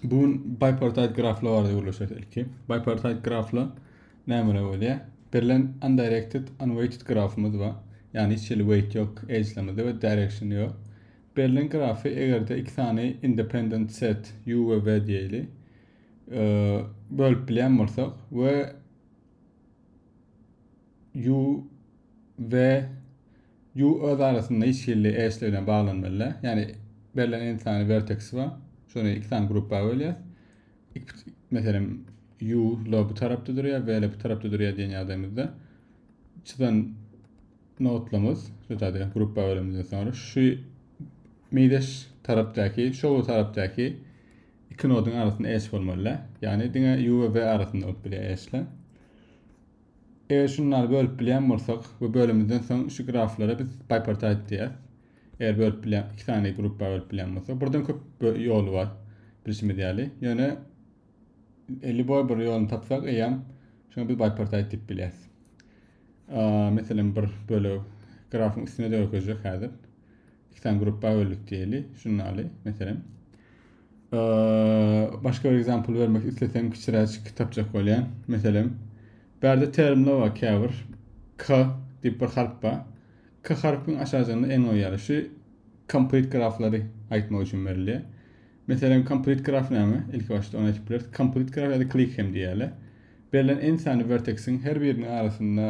Bu gün bipartite graflar barada gürleşýäris ilki. Bipartite graflar näme bolýar? Berlen undirected, unweighted grafymyz bar. Ýagny hiç hili weight ýok, edge'lemizde we direction ýok. Berlen grafy egerde iki sany independent set u we v diýeli bölüp bilýän bolsak we u v Ýu öz arasynda hiç hili eşle bilen baglanmalyda. Ýani berlen n sany werteksi bar. Şony iki sany gruppa bölýäs. Meselem, ýu la bu tarapda durýar, w la bu tarapda durýar diýen ýagdaýymyzda çyzan notlamyz, şutady gruppa bölümden soňra şu meýdeş tarapdaky, şow tarapdaky iki nodyň arasynda eş bolmalyda. Ýani diňe ýu we w arasynda bolup bilýär eşle. Eger şunlary bölüp bilýän bolsak, bu bölümimizden soň şu graflara biz bipartite diýýäs. Eger bölüp bilýän, iki sany gruppa bölüp bilýän bolsak, buradan köp ýoly bar bilşimiz ýaly. Ýöne Liboy bir ýoluny tapsak, eýýäm şoňa biz bipartite diýip bilýäs. Meselem, bir bölek grafyň üstüne dökejek häzir. iki sany gruppa böldük diýeli žurnaly meselem. Başga bir example bermek islesem kiçiräç kitapjak bolýar. Meselem, bärde termler bar käbir K diýip bir harp bar. K harpyň aşajygynda N goýýarlar. Şu complete graflary aýtmak üçin berilýär. Meselem, komplet graf näme? Ilki başda ony aýdyp bileris. Komplet graf ýa-da klik hem diýýärler. Berlen en sany werteksiň her biriniň arasynda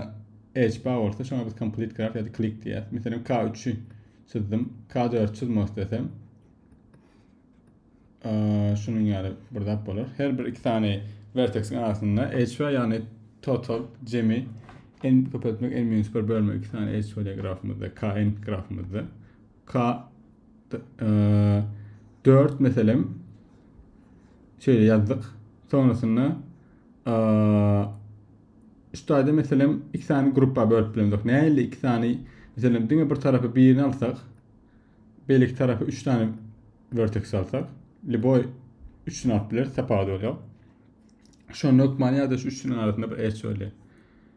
edge bar bolsa, şoňa biz komplet graf ýa-da klik diýýäris. Meselem, K üçi çyzdym. K dördi çyzmak islesem, şunuň ýaly bir zat bolar. Her bir iki sany werteksiň arasynda edge bar, ýagny total jemi n köpeltmek n-1 bölme iki sany edge bar grafymyzda, kn grafymyzda. K dört meselem şeýle ýazdyk. Sonrasynda üç taýda meselem iki sany gruppa bölüp bilendik. Nähili iki sany meselem diňe bir tarapy birini alsak, beýleki tarapy üç sany vertex alsak, liboy üçüni alyp bileris, tapawudy bolýar. Şonda hökmany ýa-da şu üçünün arasynda bir edge bolýar.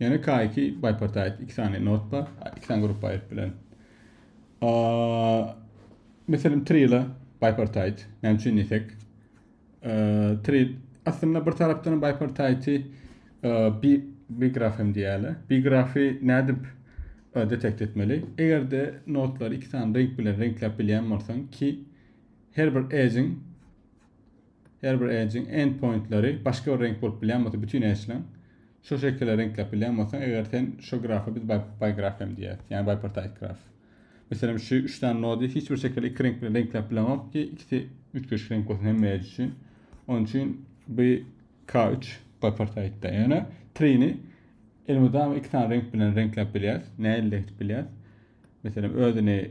Ýene K2 bipartite iki sany not bar. İki sany grup aýryp bilen. Meselem trila bipartite. Näme üçin diýsek? Tril aslynda bir tarapdan bipartite bi bi grafem diýýärler. Bi grafi nädip detekt etmeli? Eger-de notlar iki sany renk bilen renkläp bilýän bolsaň ki her bir edge-iň Her bir edge-iň endpointleri başga bir reňk bolup bilýän bolsa bütin edge-leň şo şekile reňkläp bilýän bolsaň eger sen şo grafa biz bigraf hem diýýäs ýagny bipartite graf. Meselem şu üç sany nody hiç bir şekilde iki reňk bilen reňkläp bileňok ki ikisi üýtgeşik reňk bolsun hemme edge üçin. Onuň üçin bu K3 bipartite-da ýöne tree-ni elmydama iki sany reňk bilen reňkläp bilýäs nähili edip bilýäs. Meselem özüni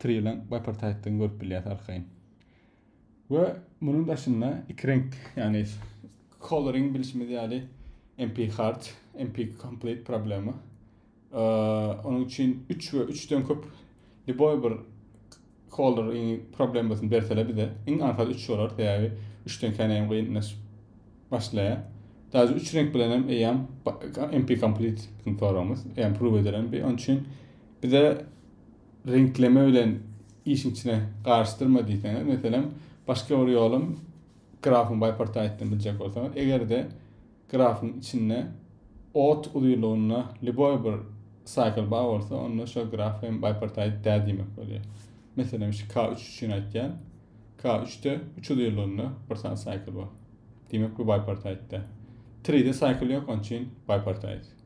Triýelen Bipartite'den görüp bilýäs arkaýyn. We munuň daşynda iki reňk, ýagny coloring bilşimiz ýaly MP hard, MP complete problema. Onuň üçin 3 we 3-den köp liboý bir color problemasyny bersele bize, iň aňsat 3 bolar, sebäbi 3-den kän hem gynlaşyp başlaýar. Daýy 3 reňk bilen hem eýýäm MP complete soragymyz, eýýäm prove edilen bi. Onuň üçin Bize reňkleme bilen işiň içine garyşdyrma diýseňiz, meselem, başga bir ýolum grafyň bipartitini biljek bolsaňyz, eger-de grafyň içinde ot uzynlygynda lýuboý bir cycle bar bolsa, onda şo graf hem bipartit däl diýmek bolýar. Meselem, şu K3 üçin aýtýan. K3-de 3 uzynlygynda bir sany cycle bar. Diýmek, bu bipartit däl. 3-de cycle ýok, onuň üçin bipartit.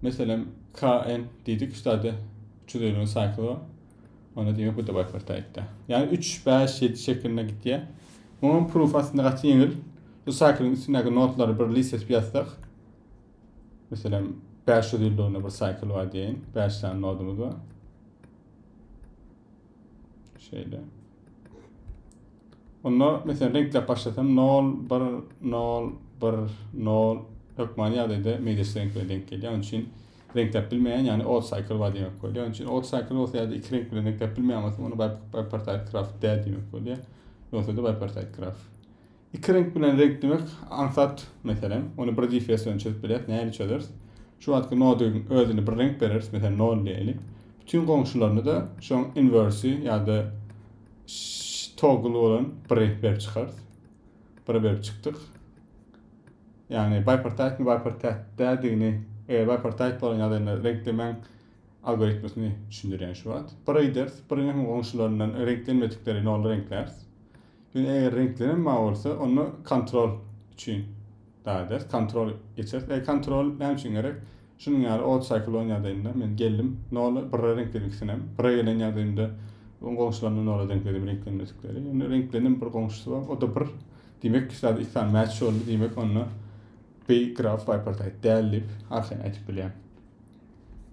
Meselem, KN diýdik, şu zada 350 nji saýkly bar. Onda diýmek bu da bipartaýtda. Ýagny 3, 5, 7 şeklinde gitýär. Muňam proof aslynda gaty ýeňil. Şu saýklyň üstündäki nodlary bir list edip ýazsak, meselem, 500 ýyl döwründe bir saýkl bar diýeýin, 5 sany nodumyz bar. Şeýle. Onda mesela reňkläp başlasam 0 1 0 1 0 hökmany ýagdaýda meýleşik reňkleri denk gelýär. Onun için reňkläp bilmeýän, ýagny odd cycle bar diýmek bolýar. Onun için odd cycle bolsa ýa-da iki reňk bilen reňkläp bilmeýän bolsa, onda bipartite graf däl diýmek bolýar. Ýogsa-da bipartite graf. Iki reňk bilen reňklemek aňsat, meselem, ony bir GPS bilen çözüp bilýäris. Nähili çözeris? Şu wagtky nodyň özüne bir reňk bereris, meselem, 0 diýeli. Bütün goňşularyna-da şoň inwersi ýa-da toggle bolan bir reňk berip çykarys. Bir berip çykdyk. Ýagny bipartite mi bipartite dädigini, eger bipartite bolan ýagdaýynda reňklemäň algoritmini düşündirýän şu wagt. Bir ideris, bir hem goňşularyndan reňklenmedikleri 0 reňkläris. Indi eger reňklenen mawy bolsa, onda kontrol üçin dagy ders, kontrol geçeris. Eger kontrol näme üçin gerek? Şunuň ýaly ot saýkly bolan ýagdaýynda men geldim, noly birre reňkledim ikisinäm. Birre gelen ýagdaýymda oň goňşularyny nola reňkledim, reňklenmedikleri. Indi reňklenen bir goňşusy bar, o-da bir. Diýmek, iki zat iki sany mäç boldy, diýmek, onda B graf bipartite däl diýip arkaýyn aýdyp bilýän.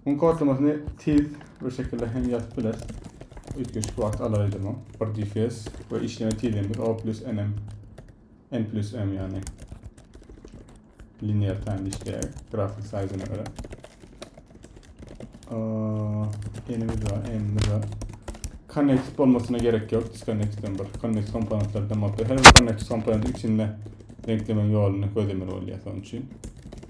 Muň kodlamasyny tiz bir şekilde hem ýazyp bileris. Üýtgeşik wagt alar edi muň. Bir difes we işleme tizligimiz O plus NM. N plus M ýagny. Linear time işleýär. Grafik size-na görä. N-imiz bar, N-imiz bar. Connect bolmasyna gerek ýok. Disconnect-den bir connect komponentlerden bolsa her bir connect komponent içinde reňklemeň ýoluny gözlemeli bolýar soň üçin.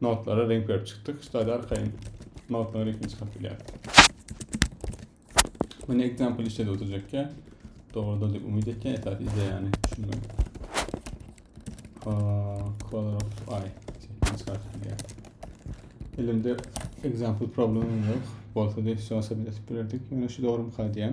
Notlara reňk berip çykdyk. Ştaýda arkaýyn notaň reňkini çykaryp bilýäris. Meni example işledi oturjakka. Dogrudan diýip umyt etýän esas ideýany düşünmek. Color of eye. Çykaryp bilýäris. Elimde example problem yok. Bolsa da şu aşağı etip bilerdik. Ýöne şu dogrumy kaýdýan.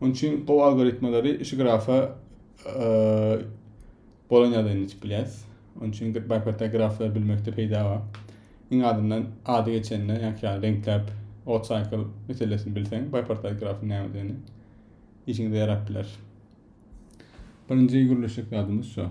Onuň üçin gowy algoritmalary şu grafa bolan ýagdaýynda içip bilýäris. Onuň üçin bankpatda graflary bilmekde peýda bar. Iň azyndan ady geçende, ýa-da reňkläp, ot cycle meselesini bilseň, bankpatda grafyň nämedigini işiňize ýarap biler. Birinji gürleşjek zadymyz şu.